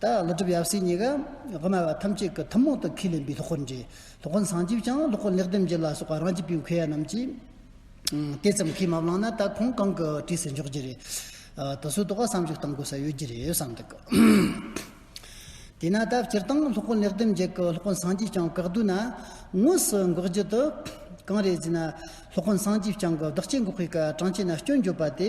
ད་ལོ་སྒྲུབ་ཡབ་སྲས་གཉིས་ཀའམ་དབུ་མ་བ་ཐམས་ཅད་ཀྱི་ཐུན་མོང་དུ་ཁས་ལེན་པའི་སློབ་འཁོར་འབྲི། སློབ་དཔོན་སངས་རྒྱས་བསྐྱངས་སློབ་དཔོན་ལེགས་ལྡན་འབྱེད་ལ་སོགས་པ་རང་གཅེས་པའི་མཁས་ཡ་རྣམས་ཀྱིས། དེ་ཙམ་ཁས་མ་བླངས་ན་ད་ཁོང་གང་གི་གྲས་སུ་འཇོག་རྒྱུ་རེད། དེ་ཚོའི་ཐོག་བསམ་གཞིག་གཏང་དགོས་ས་ཡོད་ཀྱི་རེད་བསམ་འདུག། དེས་ན་ད་སྤྱིར་བཏང་སློབ་དཔོན་ལེགས་ལྡན་འབྱེད་ཀྱི་སློབ་དཔོན་སངས་རྒྱས་བསྐྱངས་བཀག་བསྡུས་ན། དངོས་སུ་འགོག་རྒྱུ་དེ་གང་རེད་ཟེར་ན། སློབ་དཔོན་སངས་རྒྱས་བསྐྱངས་ཀྱི་བདག་གཅེས་འགོག་པའི་སྐབས་གྲངས་བཅད་ན་སྐྱོན་བརྗོད་པ་དེ་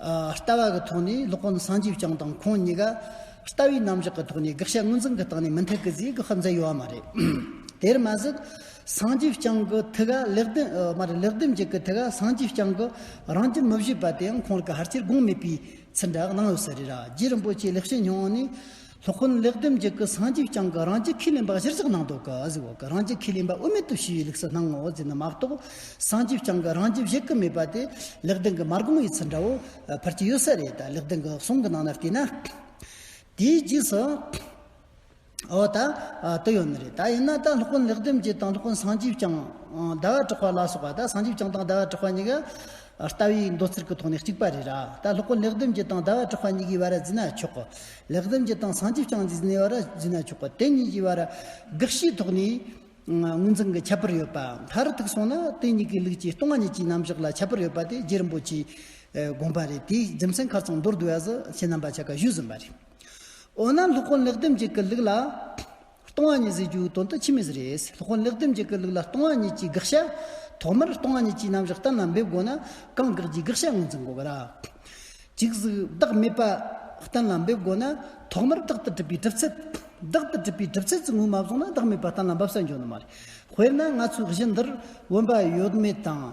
ལྟ་བ་གི་ཐོག་ནས་སློབ་དཔོན་སངས་རྒྱས་བསྐྱངས་དང་ཁོང་གཉིས་ཀ་ལྟ་བའི་རྣམ་གཞག་གི་ཐོག་ནས་དགག་བྱ་དངོས་འཛིན་གི་སྟེང་ནས་མི་མཐུན་གི་རྫས་གི་ཧ་མཛད་ཡོད་བ་མ་རེད། དེར་མ་ཟད་སངས་རྒྱས་བསྐྱངས་གི་ཐུགས་ཀ་ལེགས་ལྡན་མ་རེད་ལེགས་ལྡན་འབྱེད་གི་ཐུགས་ཀ་སངས་རྒྱས་བསྐྱངས་གི་རང་གྱི་མི་བཞེད་པ་དེའང་ཁོང་གི་ཧར་ཆེར་དགོངས་མེད་པའི་ཚུལ་འདྲ་གནང་ཡོད་ས་རེད་ར་རྗེ་རིན་པོ་ཆེའི་ལེགས་བཤད་མྱོང་བ་ནི། སློབ་དཔོན་ལེགས་ལྡན་འབྱེད་ཀྱི་སངས་རྒྱས་བསྐྱངས་ཀྱི་རང་རྒྱལ་ཁས་ལེན་པ་གཞིར་བཞག་གནང་འདུག་གཟིགས་འོག་གི་རང་རྒྱལ་ཁས་ལེན་པ་དབུ་མེད་དུ་ཞུ་བའི་ལུགས་སུ་སྣང་ངོ་ཟེར་ན་མ་གཏོགས། སངས་རྒྱས་བསྐྱངས་ཀྱི་རང་རྒྱལ་བཞེད་ཀྱི་མེད་པ་དེ། ལེགས་ལྡན་གྱི་མ་རྒོམ་བའི་ཚུལ་འདྲ་བོ། ཕར་གྱི་ཡོད་ས་རེད་ད་ལེགས་ལྡན་གྱི་གསུང་གི་ནང་ན་བལྟས་ན། དེའི་རྗེས་སུ། འོ་ད། དེ་ཡོད་ནི་རེད་ད་ཡིན་ན་ད་སློབ་དཔོན་ལེགས་ལྡན་འབྱེད་དང་སློབ་དཔོན་སངས་རྒྱས་བསྐྱངས། ཟླ་བ་གྲགས་པ་ལ་སོགས་པ་ད་སངས་རྒྱས་བསྐྱངས་དང་ཟླ་བ་གྲགས་པ་གཉིས་ཀ། ལྟ་བའི་འདོད་ཚུལ་གྱི་ཐོག་ནས་གཅིག་པ་རེད་ར་ད་སློབ་དཔོན་ལེགས་ལྡན་འབྱེད་དང་ཟླ་བ་གྲགས་པ་གཉིས་ཀའི་བར་བརྩིས་ན་ཆོག་གི། ལེགས་ལྡན་གྱི་དང་སངས་རྒྱས་བསྐྱངས་ཀྱི་གནས་བར་བགྱིས་ན་ཆོག་པ་དེ་གཉིས་ཀྱི་བར་དགག་བྱའི་ཐོག་ནས་ངོས་འཛིན་གྱི་ཁྱད་པར་ཡོད་པ་མཐར་ཐུག་སོང་ན་དེ་གཉིས་ཀའི་ལུགས་ཀྱི་སྟོང་ཉིད་ཀྱི་རྣམ་གཞག་ལ་ཁྱད་པར་ཡོད་པ་དེ་རྗེ་རིན་པོ་ཆེས་དགོངས་པ་རེད་དེའི་རྒྱུ་མཚན་ཁ་ཚང་མདོར་བསྡུས་བ་བཞིན་ཁྱེད་རྣམ་པ་ཆ་ག་ཞུས་ཟིན་པ་རེད་འོ་ན་ལྷོ་ཁོང་ལེགས་ལྡན་གྱི་ཀྱི་ལུགས་ལ། སྟོང་ཨ་ཉི་ཟེར་རྒྱུའི་དོན་དུ་ཕྱི་མི་ཟེར་རེད། ལྷོ་ཁོ་ལེགས་ལྡེམ་གྱི་སྐད་ལུགས་ལ་སྟོང་ཨ་ཉི་ཅེས་དགག་བྱ། ཐོག་མར་སྟོང་ཨ་ཉི་ཅེས་རྣམ་གཞག་གཏན་ལ་འབེབས་དགོས་ན་གང་དགག་གྱི་དགག་བྱ་ངོས་འཛིན་དགོས་པ་ར། གཅིག་གཟུགས་བདག་མེད་པ། གཏན་ལ་འབེབས་དགོས་ན་ཐོག་མར་བདག་ཏུ་གྲུབ་པའི་གྲུབ་ཚུལ། བདག་ཏུ་གྲུབ་པའི་གྲུབ་ཚུལ་གྱི་ངོས་མ་བཟུང་ན་བདག་མེད་པ་གཏན་ལ་འབབ་ས་འབྱུང་ནི་མ་རེད། དཔེར་ན་ང་ཚོའི་གཞི་འདིར་བུམ་པ་ཡོད་མེད་དང།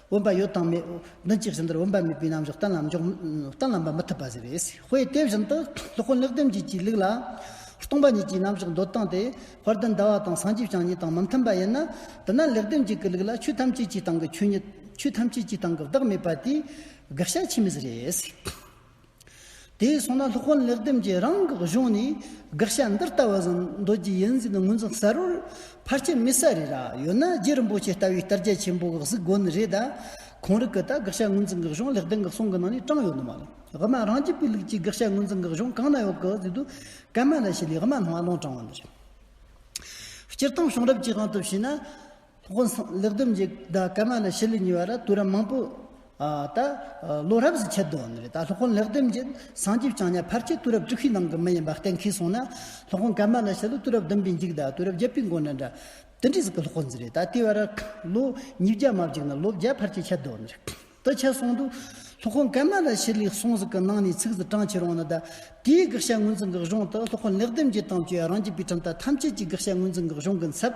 འོན་པ་ཡོད་དང་མེད། བདུན་གྱི་བཞིན་དུ་འོན་པ་མེད་པའི་རྣམ་གཞག་གཏན་ལ་འཇོག། གཏན་ལ་འབབ་མི་ཐུབ་པ་ཟེར་བས། དཔེ་དེ་བཞིན་དུ། སློབ་དཔོན་ལེགས་ལྡན་འབྱེད་ཀྱིས་ལུགས་ལ། སྟོང་པ་ཉིད་ཀྱི་རྣམ་གཞག་འདོད་སྟངས་དེ། བར་དུ་འདའ་བ་དང་སངས་རྒྱས་བྱང་ཉིད་དང་མི་མཐུན་པ་ཡིན་ན། འདི་ན་ལེགས་ལྡན་འབྱེད་ཀྱི་ལུགས་ལ་ཆོས་ཐམས་ཅད་ཀྱི་སྟེང་གི་ཆོས་ཉིད། ཆོས་ཐམས་ཅད་ཀྱི་སྟེང་གི་བདག་མེད་པ་དེའི། དགག་བྱ་ཆེན་མོ་ཟེར། དེས་སོང་ན་སློབ་དཔོན་ལེགས་ལྡེམ་གྱིས་རང་དགག་གཞུང་ནས་དགག་བྱ་འདི་ལྟ་བུ་བཟང་འདོད་རྒྱུ་ཡིན་ཟིན་ངོས་འཛིན་གསལ་བོར་ཕར་ཆེར་མི་གསལ་རེད་ར་ཡོད་ན་རྗེ་རིན་པོ་ཆེ་ལྟ་བུའི་གཏར་རྒྱ་ཆེན་པོ་དགག་གཟིགས་དགོས་ནི་རེད་ད་གོང་རིག་གི་ད་དགག་བྱ་ངོས་འཛིན་དགག་གཞུང་ལེགས་ལྡེམ་གི་གསུང་གི་ནང་ནས་དྲངས་ཡོད་ནི་མ་རེད་དབུ་མ་རང་རྒྱལ་པོའི་ལུགས་ཀྱི་དགག་བྱ་ངོས་འཛིན་དགག་གཞུང་གང་ན་ཡོད་དགག་གཟིགས་དུས་སྐལ་མ་ལ་ཞིག་ལས་དབུ་མ་སྣང་བ་ལོང་དྲངས་བ་འདི་རེད་སྤྱིར་བཏང་གཞུང་རབ་ཀྱི་དབང་དུ་བྱས་ན། དབང་སངས་ལེགས་སྡོམ་གྱི་ཟླ་སྐར་མ་ལ་ཕྱི་ལོ་ཉི་བ་ར་དུ་ར་མང་པོ་ད་ལོ་རབས་སུ་ཁྱད་དོན་རེད་ད་ལྷོ་ཁོང་ལེགས་སྡོམ་གྱི་སངས་རྒྱས་བྱང་ཉ་ཕར་ཆེར་དུ་རབས་དྲུག་གི་ནང་གི་མི་ཡིན་པ་གཏན་འཁེལ་སོང་ན་ལྷོ་ཁོང་སྐར་མ་ལ་ཕྱི་ལོ་དུ་རབས་བདུན་པའི་འཇིག་ཟླ་དུ་རབས་བརྒྱད་པའི་མགོ་ན་འདྲ་དེ་འདྲའི་ཟིག་གི་ལྷོ་ཁོང་ཟིག་རེད་ད་ལྟའི་བར་ལོ་ཉིས་བརྒྱ་མ་བརྒྱུགས་ན་ལོ་བརྒྱ་ཕར་ཆེར་ཁྱད་དོན་རེད་དུ་ཁྱད་སོང་འདུག་ལྷོ་ཁོང་སྐར་མ་ལ་ཕྱི་ལོའི་སོང་ཟིག་གི་ནང་ནས་ཚིག་ཟིག་གྲངས་ཁྱེར་འོང་ན་ད་ལྟའི་དགག་བྱ་ངོས་འཛིན་གི་གཞུང་དུ་ལྷོ་ཁོང་ལེགས་སྡོམ་གྱི་དམ་ཆོས་རང་རྒྱུད་པའི་ཁྲིམས་ལྟར་ཐམས་ཅད་ཀྱི་དགག་བྱ་ངོས་འཛིན་གི་གཞུང་གི་མཚབས་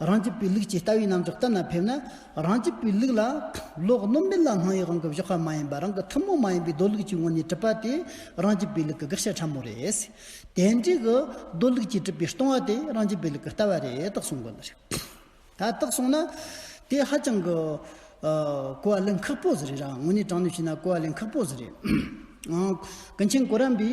རང་གི་པའི་ལུགས་ཀྱི་ལྟ་བའི་རྣམ་འཇོག་ལྟར་ན་ཕེབས་ན་རང་གི་པའི་ལུགས་ལ། ལོག་རྣམ་མེད་ལ་སྣང་ཡུལ་རང་གི་གཞོགས་ཁ་མ་ཡིན་པ་རང་གི་ཐུན་མོང་མ་ཡིན་པའི་རྡོ་ལུགས་ཀྱི་ངོས་ནས་གྲུབ་པ་དེ་རང་གི་པའི་ལུགས་ཀྱི་དགག་བྱ་ཕྲ་མོ་རེད། དེ་འབྲས་གྱི་རྡོ་ལུགས་ཀྱིས་གྲུབ་པའི་སྟོང་བ་དེ་རང་གི་པའི་ལུགས་ཀྱི་ལྟ་བ་རེད་དག་གསུང་གི་འདུག་ད་དག་སོང་ན། དེ་ཧ་ཅང་གི། གོ་བ་ལེན་ཁག་པོ་ཟིག་རེད་རང་ངོས་ནས་དྲང་ནས་བཤད་ན་གོ་བ་ལེན་ཁག་པོ་ཟིག་རེད། ཀུན་མཁྱེན་གོ་རམས་པའི།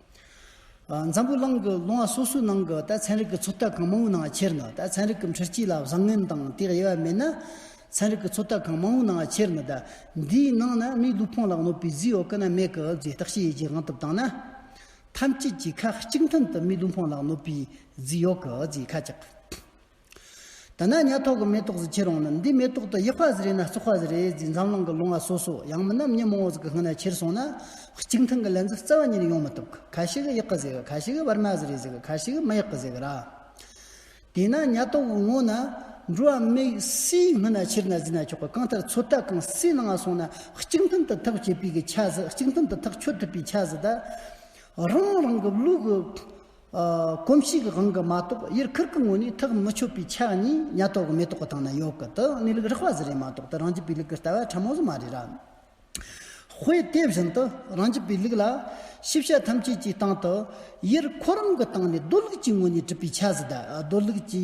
འཛམ་བུ་གླིང་གི་ལུང་བ་སོ་སོའི་ནང་གི་རྟའི་ཚན་རིག་གི་ཚོད་ལྟ་གང་མང་བོའི་ནང་ཁྱེར་ནས་རྟའི་ཚན་རིག་གི་འཕྲུལ་སྐྱིད་ལ་བཟང་ངན་དང་དེའི་དབྱེ་བ་མེད་ན། ཚན་རིག་གི་ཚོད་ལྟ་གང་མང་བོའི་ནང་ཁྱེར་ནས་རྟ་འདིའི་ནང་ན་མིའི་ལུས་ཕུང་ལ་གནོད་པའི་རྫས་ཡོད་ཀི་ན་མེད་ཀི་རྫས་བརྟག་བྱའི་ཡི་གེ་གང་ཐུབ་བཏང་ན། ཐམས་ཅད་ཀྱིས་ཁ་གཅིག་མཐུན་དུ་མིའི་ལུས་ཕུང་ལ་གནོད་པའི་རྫས་ཡོད་ཀི་རྫས་ཁ་གཅིག། ད་ནངས་ཉལ་ཐོག་གི་མེ་ཏོག་ཟི་ཁྱེར་འོང་ན་འདི་མེ་ཏོག་ཏུ་ཡེ་ཧྥ་ཟི་རེད་ན་སི་ཧྥ་ཟི་རེད་ཟིག་འཛམ་གླིང་གི་ལོ་ང་སོ་སོ་ཡང་མི་རྣམས་ཉིན་མོང་བོ་ཟི་གི་སྔུན་ན་ཁྱེར་སོང་ན་གཅིག་མཐུན་གི་ལན་ཟི་རྩ་བ་ཉིད་ཡོང་མི་ཐུབ་གི་ཁ་ཤི་གི་ཡེག་གི་ཟི་གི་ཁ་ཤི་གི་བར་མ་ཟི་རེད་ཟི་གི་ཁ་ཤི་གི་མི་ཡེག་གི་ཟི་གི་ར། དེས་ན་ཉལ་ཐོག་གི་ངོ་ན་འགྲོ་བ་མི་ཡི་སིའི་སྔུན་ན་ཁྱེར་ན་ཟི་ན་ཆོག་གི་གང་ལྟར་ཚོད་ལྟ་གང་སིའི་ནང་ང་སོང་ན་གཅིག་མཐུན་དུ་ཐག་བཅད་པའི་གི་ཆ་ཟི་གཅིག་མཐུན་དུ་ཐག་ཆོད་ཐུབ་པའི་ཆ་ཟི་ད། རང་རང་གི་ལུགས་གི་གོམས་གཤིས་ཀྱི་དབང་གིས་མ་གཏོགས་དབྱར་ཁུར་གྱི་ངོས་ནས་ཐག་མི་ཆོད་པའི་ཆ་གཉིས་ཉ་ཐོག་གི་མེ་ཏོག་གི་སྟེང་ན་ཡོད་གི་དེའང་གནས་ལུགས་རགས་པ་ཟེར་ཡང་མ་གཏོགས་དེ་རང་རྒྱུད་པའི་ལུགས་ཀྱི་ལྟ་བ་ཕྲ་མོ་ཟིག་མ་རེད་ར། དཔེ་དེ་བཞིན་དུ་རང་རྒྱུད་པའི་ལུགས་ལ། ཤེས་བྱ་ཐམས་ཅད་ཀྱི་སྟེང་དུ། དབྱར་ཁོ་རང་གི་སྟེང་ནས་རྡོ་ལུགས་ཀྱི་ངོས་ནས་གྲུབ་པའི་ཆ་ཟིག་གདའ། རྡོ་ལུགས་ཀྱི།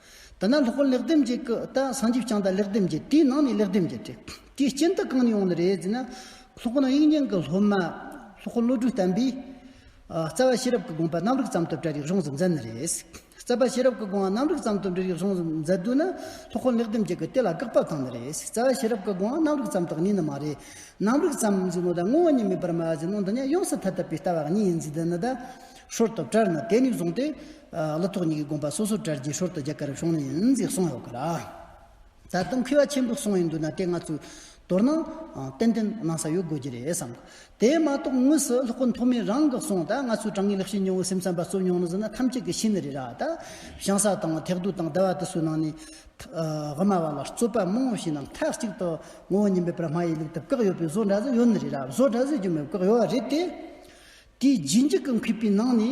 དེ་ནས་ལྷག་པར་ལེགས་ལྡེམ་གྱི་སྐུ་ལྟ་སངས་རྒྱས་བསྐྱངས་ལྟ་ལེགས་ལྡེམ་གྱི་དེའི་ནང་ནས་ལེགས་ལྡེམ་གྱི་དེ་དེའི་རྐྱེན་དུ་གང་ནས་འོངས་ནི་རེད་ཟེར་ན། ལྷག་པར་དབྱིག་གཉེན་གྱི་སློབ་མ་ལྷག་པར་བློ་གྲོས་བརྟན་པས། རྩ་བ་ཤེས་རབ་ཀྱི་དགོངས་པ་རྣམ་རིག་ཙམ་དུ་བཀྲལ་རིག་གཞུང་སུ་མཛད་ནི་རེད། རྩ་བ་ཤེས་རབ་ཀྱི་དགོངས་པ་རྣམ་རིག་ཙམ་དུ་འགྲེལ་རིག་གཞུང་སུ་མཛད་དུས་ནི་ལྷག་པར་ལེགས་ལྡེམ་གྱི་སྐུ་དེ་ལ་དགག་པ་བཏང་ནི་རེད། རྩ་བ་ཤེས་རབ་ཀྱི་དགོངས་པ་རྣམ་རིག་ཙམ་དག་གཉིས་ནི་མ་རེད། རྣམ་རིག་ཙམ་ཟེར་ནོ་ད་དངོས་བོ་ཉིད་མེད་པར་མ་ཟེར་ནོ་འདི་ནི་ཡོངས་སུ་ཐ་དད་པའི་ལྟ་བ་གཉིས་ཡིན་ཚུལ་འདི་ནི་ད། ཧྲོལ་དུ་བཀྲལ་ནི་དེ་ནས་བཟུང་སྟེ། ལོ་ཐོག་གཉིས་ཀྱི་དགོངས་པ་སོ་སོར་གྲྭར་རྗེས་ཤོར་དུ་རྒྱ་གར་རབ་བྱུང་ནས་ནི་གསུངས་ཡོད་ཀྱི་རེད། ད་དུང་ཁུ་བ་ཆེན་པོ་གསུངས་ཡོད་འདུག་ན་དེ་ང་ཚོས་མདོར་ན་ཏན་ཏན་གནང་ས་ཡོད་དགོས་ཀྱི་རེད་བསམ། དེ་མ་གཏོགས་དངོས་སུ་ལྷོ་སྐུ་མཐོ་དམན་རང་གི་གསུང་ད་ང་ཚོས་དྲང་ངེས་ལེགས་ཤེས་ཉུང་བའི་སེམས་ཙམ་པ་ཚོས་མྱོང་ན་ཟེར་ན་ཐམས་ཅད་ཀྱི་ཤེས་ནི་རེད་ར་ད། བྱང་ས་དང་ཐེག་བསྡུ་དང་ཟླ་བ་དུས་སུ་ནང་ནས། དབུ་མ་བ་ལ་རྩོད་པ་མང་བོ་ཞིག་ནང་མཐའ་གཅིག་ཏུ་ངོ་བོ་ཉིད་པའི་པར་མ་ཡིས་ལུགས་ལྟར་བཀག་ཡོད་པའི་བཟོ་འདྲ་བཟོས་ཡོད་ནི་རེད་ར་བཟོ་འདྲ་བཟོས་ཀྱི་མེད་བཀག་ཡོད་རེད་དེ། དེའི་རྗེས་འཇུག་གི་མཁས་པའི་ནང་ནས།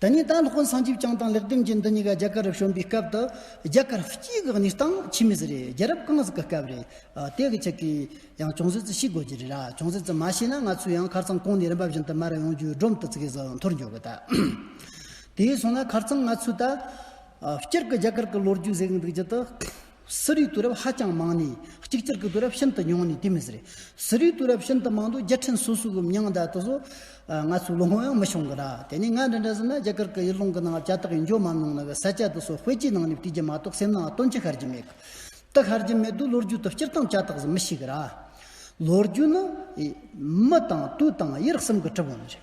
དེ་ནས་ད་ལྷག་བསང་ཆུ་བསྐྱངས་དང་ལེགས་འདེམས་ཀྱི་འདི་གཉིས་ཀ་རྒྱ་གར་རུ་བྱོན་པའི་སྐབས་དུ་རྒྱ་གར་སྤྱིའི་གེགས་ནི་སྟངས་ཕྱི་མི་ཟིག་རེད་རྒྱལ་རབས་གང་ཟིག་གི་སྐབས་རེད་དེ་གི་ཆེད་གིས་ཡང་ཅུང་ཟད་ཙི་ཤི་དགོས་ཀྱི་རེད་ར་ཅུང་ཟད་ཙི་མ་ཤི་ན་ང་ཚོས་ཡང་ཁར་ཚང་ཀོང་ནས་རིམ་པ་བཞིན་དུ་མར་ཡོང་རྒྱུའི་སྒྲོམ་དུ་ཙི་གེ་ཟིག་འཐོར་འཇོག་གི་ད་དེའི་སོང་ན་ཁར་ཚང་ང་ཚོས་ད་ཕྱིར་གི་རྒྱ་གར་གི་ལོ་རྒྱུས་ཟེག་འདུག་རྒྱུ་དུ་གསོ་རིག་དུས་རབས་ཧ་ཅང་མང་ནས་གཅིག་གྱུར་གྱི་དུས་རབས་ཤིན་ཏུ་ཉུང་ནས་དེ་མི་ཟེར། གསོ་རིག་དུས་རབས་ཤིན་ཏུ་མང་དུས་རྒྱལ་ཕྲན་སོ་སོའི་གི་མྱང་འདས་དུ་སོ། ང་ཚོའི་ལོ་ངོ་ཡང་མི་ཤོང་གི་ར། དེ་ནས་ང་འདྲ་འདྲ་ཟེར་ན་རྒྱ་གར་གི་ཡུལ་ལུང་གི་ནང་བྱ་ཐག་ཡིན་འཇོག་མ་གནང་ན་གི་ས་སྐྱ་དུ་སོ་དཔེ་ཆའི་ནང་ནས་བྲིས་རྒྱུ་མ་གཏོགས་སེམས་ནའང་སྟོན་ཆ་ཤར་གྱི་མེད་གི། རྟགས་ཤར་གྱི་མེད་དུས་ལོ་རྒྱུས་དུ་སྤྱིར་བཏང་བྱ་ཐག་ཟིན་མི་ཤེས་གི་ར། ལོ་རྒྱུས་ནི། མི་དང་དུས་དང་ཡིད་གསུམ་གི་གྲུབ་དབང་རེད།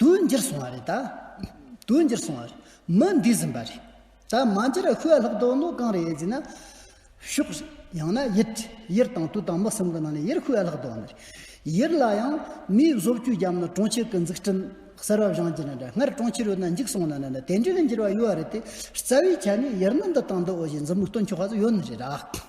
དུ་འགྱུར་སོང་བ་རེད། དུ་འགྱུར་སོང་བ་རེད། མི་འདི་ཟིན་པ་རེད། ད་མ་འགྱུར་ཁོས་ལྷག་དོགས་ནོ་གང་རེད་ཟེར་ན། ཤོག། ཡང་ན་ཡིད། ཡིར་དང་དུ་དང་མི་གསུམ་གི་ནང་ནས་ཡིར་ཁོས་ལྷག་དོགས་ནི་རེད། ཡིར་ལ་ཡང། མིའི་བཟོ་བཅོས་རྒྱབ་ན་གྲོང་ཁྱེར་གི་འཛུགས་སྐྲུན། གསར་བ་བཞེངས་རྒྱུ་ནི་འདྲ་སྔར་གྲོང་ཁྱེར་ཡོད་ན་འཇིག་སོང་ན་ནི་དེ་འདྲའི་ནི་འགྱུར་བ་ཡོད་རེད་དེ། རྩ་བའི་ཆ་ནས་ཡིར་ནི་འདི་དང་འདི་འོ་ཞེས་མཛུབ་མོ་གཏོད་མཆོག་ག་ཚོད་ཡོད་ནི་རེད།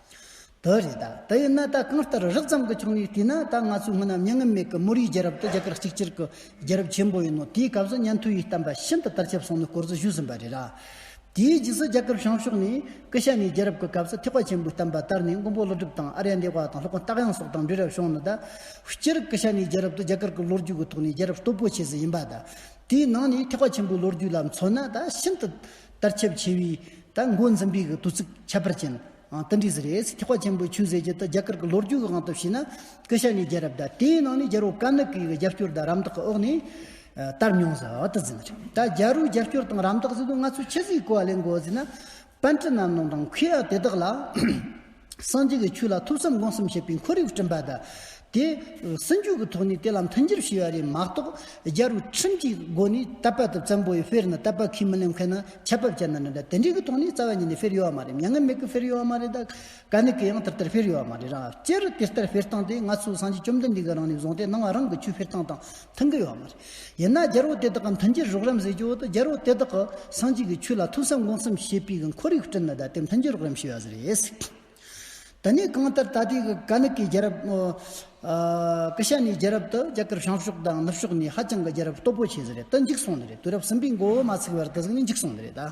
དེ་རེད་ད། དེ་ཡིན་ན་ད་གང་ལྟར་རགས་ཙམ་གྱི་ཆོག་ནའི་དུས་ན་ད་ང་ཚོའི་སྔོན་ན་མྱ་ངན་མེད་གི་མུ་རིའི་རྒྱལ་རབས་དེ་རྒྱ་གར་གཅིག་གྱུར་གྱི་རྒྱལ་རབས་ཆེན་པོ་ཡིན་ནོ་དེའི་སྐབས་སུ་ཉན་ཐོས་ཡི་དམ་པ་ཤིན་ཏུ་དར་ཁྱབ་སོང་ནས་སྐོར་བཟོ་ཞུས་ཟིན་པ་རེད་ར། དེའི་རྗེས་སུ་རྒྱ་གར་བྱང་ཕྱོགས་ནས་ཀི་ཤ་ནའི་རྒྱལ་རབས་ཀྱི་སྐབས་སུ་ཐེག་པ་ཆེན་པོའི་གཏམ་པ་དར་ནས་མགོན་པོ་ཀླུ་སྒྲུབ་དང་ཨ་རྱ་འདེ་བ་དང་ལྷོ་ཁ་སྟག་དབྱངས་སོགས་དང་འབྲེལ་རབས་བྱུང་ནས་ད། སྤྱིར་ཀི་ཤ་ནའི་རྒྱལ་རབས་དེ་རྒྱ་གར་གྱི་ལོ་རྒྱུས་ཀྱི་ཐོག་ནས་རྒྱལ་རབས་སྟོབས་པོ་ཆེ་ཟིག་ཡིན་པ་ད། དེའི་ནང་ནས་ཐེག་པ་ཆེན་པོའི་ལོ་རྒྱུས་ལ་མཚོན་ན་ད་ཤིན་ཏུ། ལྟར་ཁྱབ་ཆེ་བས། ད་མགོ་འཛིན་པའི་དུས་ཚིགས་ཁྱད་པར་ཅན། ཏི་འབྲི་ཟི་རེས་ཐེག་པ་ཆེན་པོའི་ཆོས་ཟེར་གྱི་ཏི་རྒྱ་གར་གྱི་ལོ་རྒྱུས་ཀྱི་དབང་དུ་བྱས་ན། སྐུ་ཞབས་ནི་རྒྱལ་རབས་ཟླ་དེའི་ནང་ནས་རྒྱལ་པོ་ཀ་ནི་ཀའི་རྒྱབ་སྐྱོར་དང་རམ་འདེགས་ཀྱི་འོག་ནས། དར་མྱོང་ཟ་བ་ཏི་ཟི་མ་རེད། ད་རྒྱལ་པོའི་རྒྱབ་སྐྱོར་དང་རམ་འདེགས་ཟེར་དུས་ང་ཚོས་ཕྱི་ཟིག་གོ་བ་ལས་མགོ་ཟིན་ན། པན་ཀྲི་རྣམས་ནང་དང་ཁུལ་ཡ་དེ་དག་ལ། སངས་རྒྱས་ཀྱི་ཆོས་ལ་ཐུགས་བསམ་དགོངས་བསམ་བྱེད་པའི་འཁོར་ཡུག་བསྐྲུན་པ་དང། དེ་སྲིད་འཇུག་གི་ཐོག་ནས་དེ་ལ་མཐུན་འགྱུར་བྱས་པ་རེད་མ་གཏོགས་རྒྱལ་རོ་ཁྲིམས་ཀྱི་སྒོ་ནས་རྟ་པད་དུ་བཙན་པོ་ཡི་དཔེར་ན་རྟ་པད་ཁས་མི་ལེན་མཁན་ན་ཆད་པ་བཅད་ན་འདྲ་འདྲ་དེ་འདྲའི་གི་ཐོག་ནས་རྩ་བ་ཉིད་ནས་དཔེར་ཡོད་བ་མ་རེད་མྱ་ངན་མེད་གི་དཔེར་ཡོད་བ་མ་རེད་ད་ག་ནི་གི་ཡང་དེ་ལྟར་དཔེར་ཡོད་བ་མ་རེད་རང་སྤྱིར་དེ་ལྟར་དཔེར་བཏང་སྟེ་ང་ཚོའི་སངས་རྒྱས་བཅོམ་ལྡན་འདས་གི་རང་ནས་བཟུང་སྟེ་སྣང་བ་རང་གི་ཆོས་དཔེར་བཏང་དང་མཐུན་གི་ཡོད་བ་མ་རེད། ཡིན་ན་རྒྱལ་པོ་དེ་དག་གི་མཐུན་རྐྱེན་རོགས་རམ་བཟོས་ཀྱི་འོག་ཏུ་རྒྱལ་པོ་དེ་དག་གིས་སངས་རྒྱས་ཀྱི་ཆོས་ལ་ཐོས་བསམ་སྒོམ་གསུམ་བྱེད་པའི་ཁོར་ཡུག་བསྐྲུན་ནས་ད་ལྟའི་མཐུན་རྐྱེན་རོགས་རམ་ཞུ་བ་ཟེར་ཡས། དེ་ནས་གང་ལྟར་ད་ལྟའི་ག་ནི་ཀའི་རྒྱལ་རབས། ཀི་ཤ་ནའི་རྒྱལ་རབས་དུ་རྒྱ་གར་བྱང་ཕྱོགས་དང་ནུབ་ཕྱོགས་ནས་ཧ་ཅང་གི་རྒྱལ་རབས་སྟོབས་པོ་ཆེ་ཟེར་ཡས་དུ་འཇིག་སོང་ནི་རེད་དུས་རབས་གསུམ་པའི་མགོ་བོ་མ་ཚུགས་བར་དུ་གཟུགས་ནི་འཇིག་སོང་ནི་རེད།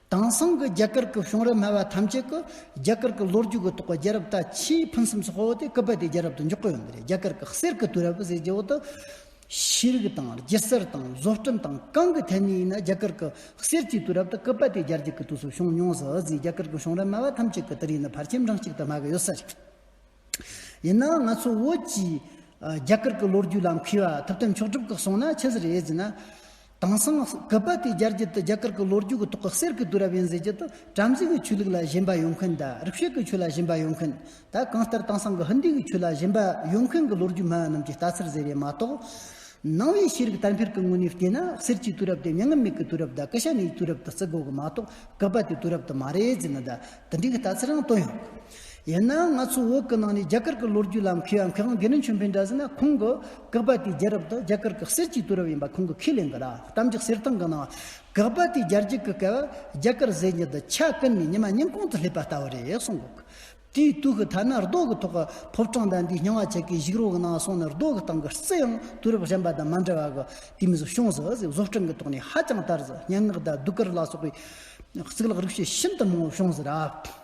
དེང་སང་གི་རྒྱ་གར་གི་གཞུང་རབ་སྨྲ་བ་ཐམས་ཅད་ཀྱིས་རྒྱ་གར་གྱི་ལོ་རྒྱུས་ཀྱི་ཐོག་རྒྱལ་རབས་ད་ཆའི་ཕུན་སུམ་ཚོགས་པོ་དེ་སྐུད་པ་དེའི་རྒྱལ་རབས་དུ་འཇོག་གི་ཡོད་མི་རེད་རྒྱ་གར་གྱི་གསེར་གྱི་དུས་རབས་ཟེར་རྒྱུ་འོག་ཏུ། ཤེས་རིག་དང་སྒྱུ་རྩལ་དང་བཟོ་སྐྲུན་དང་གང་གི་ཐད་ནས་ཡིན་ན་རྒྱ་གར་གྱི་གསེར་གྱི་དུས་རབས་ད་སྐུད་པ་དེའི་རྒྱལ་རྒྱུད་ཀྱི་དུས་སུ་བྱུང་མྱོང་ཟེར་ཨོ་ཛི་རྒྱ་གར་གྱི་གཞུང་རབ་སྨྲ་བ་ཐམས་ཅད་ཀྱིས་དེ་རིགས་ནི་ཕར་ཁྱིམ་རང་གཅིག་ཏུ་སྨྲ་གི་ཡོད་ས་རེད། ཡིན་ནའང་ང་ཚོ་བོད་ཀྱིས་རྒྱ་གར་གྱི་ལོ་རྒྱུས་ལ་མཁས་པ་ཐུབ་བསྟན་མཆོག་གྲུབ་ཁག་སོང་ན་ཆི་ཟེར་ཨེ་ཟེར་ན། དེང་སང་སྐུད་པ་དེ་སྦྱར་རྒྱུ་དེ་རྒྱ་གར་གྱི་ལོ་རྒྱུས་ཀྱི་ཐོག་གི་གསེར་གྱི་དུས་རབས་ཡིན་ཟེར་རྒྱུ་དེ་བྲམ་ཟེ་གྱི་ཆོས་ལུགས་ལ་ཞེན་པ་ཡོད་མཁན་དང་རིག་བྱེད་ཀྱི་ཆོས་ལ་ཞེན་པ་ཡོད་མཁན་དང་གང་ལྟར་དེང་སང་གི་ཧིན་དི་གི་ཆོས་ལ་ཞེན་པ་ཡོད་མཁན་གྱི་ལོ་རྒྱུས་སྨྲ་བ་རྣམས་ཀྱི་ལྟ་ཚུལ་ཟེར་བས་མ་གཏོགས། ནང་བའི་ཤེས་རིག་དར་འཕེལ་གྱི་ངོས་ནས་བལྟས་ན་གསེར་གྱི་དུས་རབས་དེ་མྱ་ངན་མེད་ཀྱི་དུས་རབས་དང་ཀི་ཤ་ནེའི་དུས་རབས་དུ་བརྩི་དགོས་ཀྱི་མ་གཏོགས་སྐུད་པ་དེ་དུས་རབས་དུ་མ་རེད་ཟེར་ན་དང་དེ་འདྲའི་ལྟ་ཚུལ་ཡང་བཏོན་ཡོད། ཡིན་ནའང་ང་ཚོ་བོད་ཀྱི་ནང་ནས་རྒྱ་གར་གྱི་ལོ་རྒྱུས་ལ་མཁས་པ་མཁས་དབང་དགེ་འདུན་ཆོས་འཕེལ་འདྲ་ཟེར་ན་ཁོང་གི་དགག་པ་དེའི་རྒྱལ་རབས་དེ་རྒྱ་གར་གྱི་གསེར་གྱི་དུས་རབས་ཡིན་པ་ཁོང་གིས་ཁས་ལེན་གི་རེད་གཏམ་རྒྱག་གསེར་ཐང་གི་ནང་དགག་པ་དེའི་རྒྱལ་རྒྱུད་ཀྱི་སྐལ་བ་རྒྱ་གར་ཟེར་རྒྱུ་འདི་ཆ་ཀུན་ནས་ཉི་མ་སྙིང་གོང་དུ་སླེབས་པ་ལྟ་བུ་རེད་གསུང་གི་འདུག་དེའི་དུས་ཀྱི་ཐ་ན་རྡོ་གི་ཐོག་གི་ཕོ་བྲང་དང་དེའི་སྙིང་བ་ཆེ་གེའི་ཞིག་རོ་གི་ནང་སོང་ནས་རྡོ་གི་སྟེང་གི་རྩི་ཡང་དུས་རབས་གཞན་པ་དང་མ་འདྲ་བ་གི་དུས་མིན་གཞུང་བཟོ་བཟོ་སྐྲུན་གྱི་ཐོག་ནས་ཧ་ཅང་དར་ཟེར་སྙན་ངག་དང་གདུགས་དཀར་ལ་སོགས་པའི་གཙུག་ལག་རིག་བྱེད་ཤིན་ཏུ་མང་བོ་བྱུང་ཟེར་ར།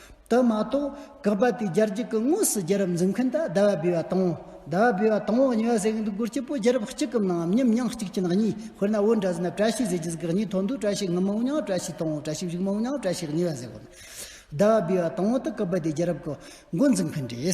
དུ་མ་གཏོགས་གབ་པ་དེ་སྦྱར་རྒྱུ་གི་དངོས་སུ་རྒྱལ་རབས་འཛིན་མཁན་དུ་ཟླ་བ་སྦས་པ་དང། ཟླ་བ་སྦས་པ་དང་བོ་ཉི་བ་ཟེར་གྱི་འདུག་གུར་སྐྱིད་པོ་རྒྱལ་རབས་གཅིག་གམ་ནའམ་གཉིས་མྱང་གཅིག་ཅན་གཉིས་དཔེར་ན་བོད་འདྲ་ཟེར་ན་བཀྲ་ཤིས་ཟེར་རྒྱུ་ཟེར་གི་གཉིས་ཐོག་འདུག་བཀྲ་ཤིས་ངམ་མང་བོ་མྱང་བཀྲ་ཤིས་དང་བོ་བཀྲ་ཤིས་བཞུགས་མང་བོ་མྱང་བཀྲ་ཤིས་ཉི་བ་ཟེར་དགོས་ན། ཟླ་བ་སྦས་པ་དང་བོ་དུ་གབ་པ་དེ་རྒྱལ་རབས་ཀྱི་འགོ་འཛིན་མཁན་རེད།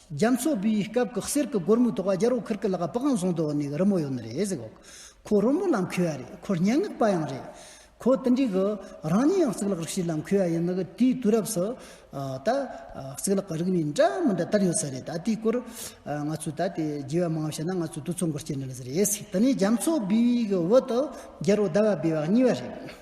རྒྱ་མཚོ་བུའི་སྐབས་ཀྱི་གསེར་གྱི་སྒོར་མོའི་ཐོག་རྒྱལ་རོགས་ཁིར་གི་ལག་པའང་བཟུང་འདུག་ནས་རི་མོ་ཡོད་ནི་རེད་ཟེར། ཁོ་རི་མོ་ལ་མཁས་པ་རེད་ཁོ་སྙན་ངག་པ་ཡང་རེད། ཁོ་དེ་འདྲའི་གི་རང་ཉིད་ཡང་གཙུག་ལག་རིག་བྱེད་ལ་མཁས་པ་ཡིན་ནི་དུས་དུས་རབས་སུ་ད་གཙུག་ལག་གི་རིག་གནས་འདྲ་མི་འདྲ་དར་ཡོད་ས་རེད་ད་དེའི་སྐོར་ང་ཚོས་ད་དེ་རྒྱས་པ་མང་བ་བཤད་ན་ང་ཚོས་དུས་ཚོད་འགོར་སྐྱེལ་ནི་ལེ་ཟེར་རེད། དེ་ནས་རྒྱ་མཚོ་བུའི་གི་འོད་དུ་རྒྱལ་རོགས་ཟླ་བ་སྦས་པ་གཉིས་པ་རེད།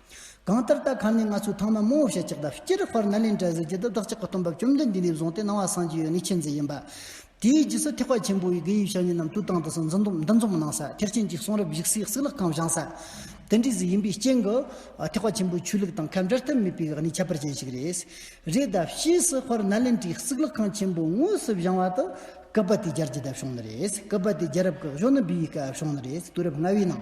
གང་ལྟར་རྟ་ཁ་ནས་ང་ཚོས་ཐང་ན་རྨོ་བཤད་ཅིག་དང་སྐྱི་རག་བར་ནཱ་ལེནྡྲ་གཟི་བརྗིད་དུ་བདག་ཅག་གི་སྟོན་པ་བཅོམ་ལྡན་འདས་ནས་བཟུང་སྟེ་སྣང་བ་སངས་རྒྱས་ཡོད་ནི་ཁྱེད་ཚོ་ཡིན་པ། དེའི་རྗེས་སུ་ཐེག་པ་ཆེན་པོ་འི་དགེ་ཡུལ་ཞབས་གཉིས་རྣམས་དུས་དང་དུས་སུ་འདུ་འཛོམས་འདུ་འཛོམས་གནང་ས་ཐེག་ཆེན་གྱི་གསུང་རབ་བཞུགས་སའི་གསིག་ལག་ཁང་བཞེངས་ས། དེ་འདྲའི་གཟི་ཡིན་པའི་རྐྱེན་གྱིས། ཐེག་པ་ཆེན་པོའི་ཆོས་ལུགས་དང་ཁ་འབྲལ་ཐབས་མེད་པའི་གནས་ཁྱད་པར་ཅན་ཞིག་རེད། རེད་ད་ཕྱིས་སུ་བར་ནཱ་ལེནྡྲའི་གསིག་ལག་ཁང་ཆེན་པོ་དངོས་སུ་བཞེངས་བ་དུ་སྐབས་པ་དེའི་རྒྱལ་གྱི་དབྱངས་ཞུང་ནི་རེད། སྐབས་པ་དེའི་རྒྱལ་རབས་ཀྱི་གཞོན་ནུ་འབུལ་བའི་སྐབས་ཞུང་ནི་རེད། དུས་རབས་ལྔ་བའི་ནང།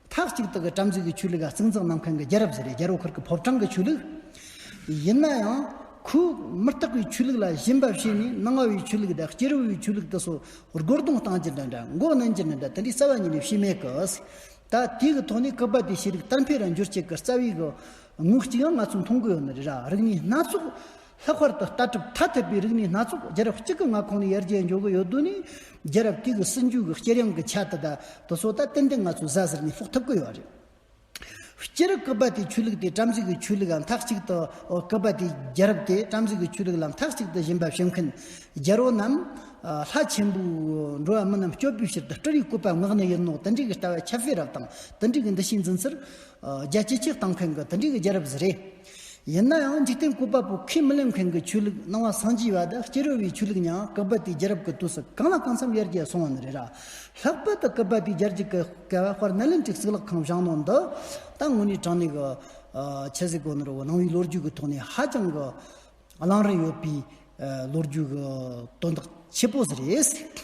མཐའ་གཅིག་ཏུ་གི་དྲ་འཛུལ་གྱི་ཆོས་ལུགས་ལ་གཙིགས་འཛིན་གནང་མཁན་གྱི་རྒྱལ་རབས་ཟེར་བའི་རྒྱལ་རོགས་འཁོར་གྱི་ཕོབ་གྲངས་ཀྱི་ཆོས་ལུགས། ཡིན་ན་ཡང། ཁོས་མི་རྟག་པའི་ཆོས་ལུགས་ལ་བཞིན་འབབ་བྱས་ནས་སྣང་བ་བའི་ཆོས་ལུགས་དང་སྐྱེ་རུ་བའི་ཆོས་ལུགས་དུ་སོགས་རྒོལ་རྡུང་བཏང་ཀྱི་འདྲ་འདྲ་མགོ་གནོན་གྱི་འདྲ་འདྲ་དེ་འདྲའི་རྩ་བ་ཉིད་ནས་བྱས་མེད་ཀྱི། ད་ལྟའི་གི་ཐོག་ནས་སྐུད་པ་དེ་ཤེས་རིག་དར་འཕེལ་ར་འགྱུར་བཅས་ཀྱི་རྩ་བའི་གི་ངོས་ཀྱིས་ང་ཚོས་མཐོང་གི་ཡོད་ནི་རེད་ར་རིག་གནས་སྣ་ཚོགས་ལྷག་པར་དུ་ལྟ་གྲུབ་ཐ་དད་པའི་རིག་གནས་སྣ་ཚོགས་རྒྱལ་རབས་གཅིག་གི་མངའ་ཁོངས་ནས་ཡར་རྒྱས་འགྲོ་གི་ཡོད་དོན་ནི། རྒྱལ་རབས་དེ་གི་སྲིད་འཇུས་ཀྱི་སྐྱེལ་ཡང་གི་ཆ་དེ་དག་དེ་ཚོ་ད་ཏན་ཏན་ང་ཚོས་གཟའ་ཟུར་ནས་དཔོག་ཐུབ་གི་ཡོད་རེད། སྤྱིར་སྐུད་པ་དེའི་ཆོས་ལུགས་དེ་བྲམ་ཟེ་གི་ཆོས་ལུགས་ལ་མཐའ་གཅིག་ཏུ། སྐུད་པ་དེའི་རྒྱལ་རབས་དེ་བྲམ་ཟེ་གི་ཆོས་ལུགས་ལ་མཐའ་གཅིག་ཏུ་བཞེངས་པ་བྱེད་མཁན་རྒྱལ་པོ་རྣམས། ལྷ་ཆེན་པོའི་འགྲོ་བ་མི་རྣམས་སྐྱོབ་པའི་ཕྱིར་དུ་སྤྲུལ་བའི་སྐུད་པ་མངགས་ནི་ཡིན་ནོ་དེ་འདྲའི་གི་ལྟ་བ་ཁྱབ་སྤེལ་རབས་དང་དེ་འདྲའི་གི་འདུ་ཤེས་འཛིན་ཚུལ། རྒྱལ་སྤྱིའི་སྤྱིར་བཏང་མཁན་གི་དེ་འདྲའི་གི་རྒྱལ་རབས་ཟེར་རེད། ཡིན་ན་ཡང་འཇིག་རྟེན་སྐུ་དཔའ་བོ་ཁས་མི་ལེན་མཁན་གྱི་ཆོས་ལུགས་སྣང་བ་བཟང་སྤྱི་བ་དང་སྐྱེ་རུ་བའི་ཆོས་ལུགས་ཉང་ཀི་པ་ཏིའི་རྒྱལ་རབས་ཀྱི་དུས་སུ་གང་ལ་གང་འཚམ་ཡར་རྒྱས་སོང་བ་ནི་རེད་ར། ལྷག་པར་དུ་ཀི་པ་ཏིའི་རྒྱལ་གཅིག་གི་སྐལ་བ་དཔར་ནཱ་ལེནྡྲའི་གཙུག་ལག་ཁང་བཞེངས་གནང་འདི་དང་དངོས་གནས་དྲང་གནས་ཀྱི་ཆེ་གཟིགས་གོ་ནོར་བོ་ནང་བའི་ལོ་རྒྱུས་ཀྱི་ཐོག་ནས་ཧ་ཅང་གི་བླང་རིན་ཡོད་པའི་ལོ་རྒྱུས་ཀྱི་དོན་དག་ཆེ་པོ་ཟིག་རེད།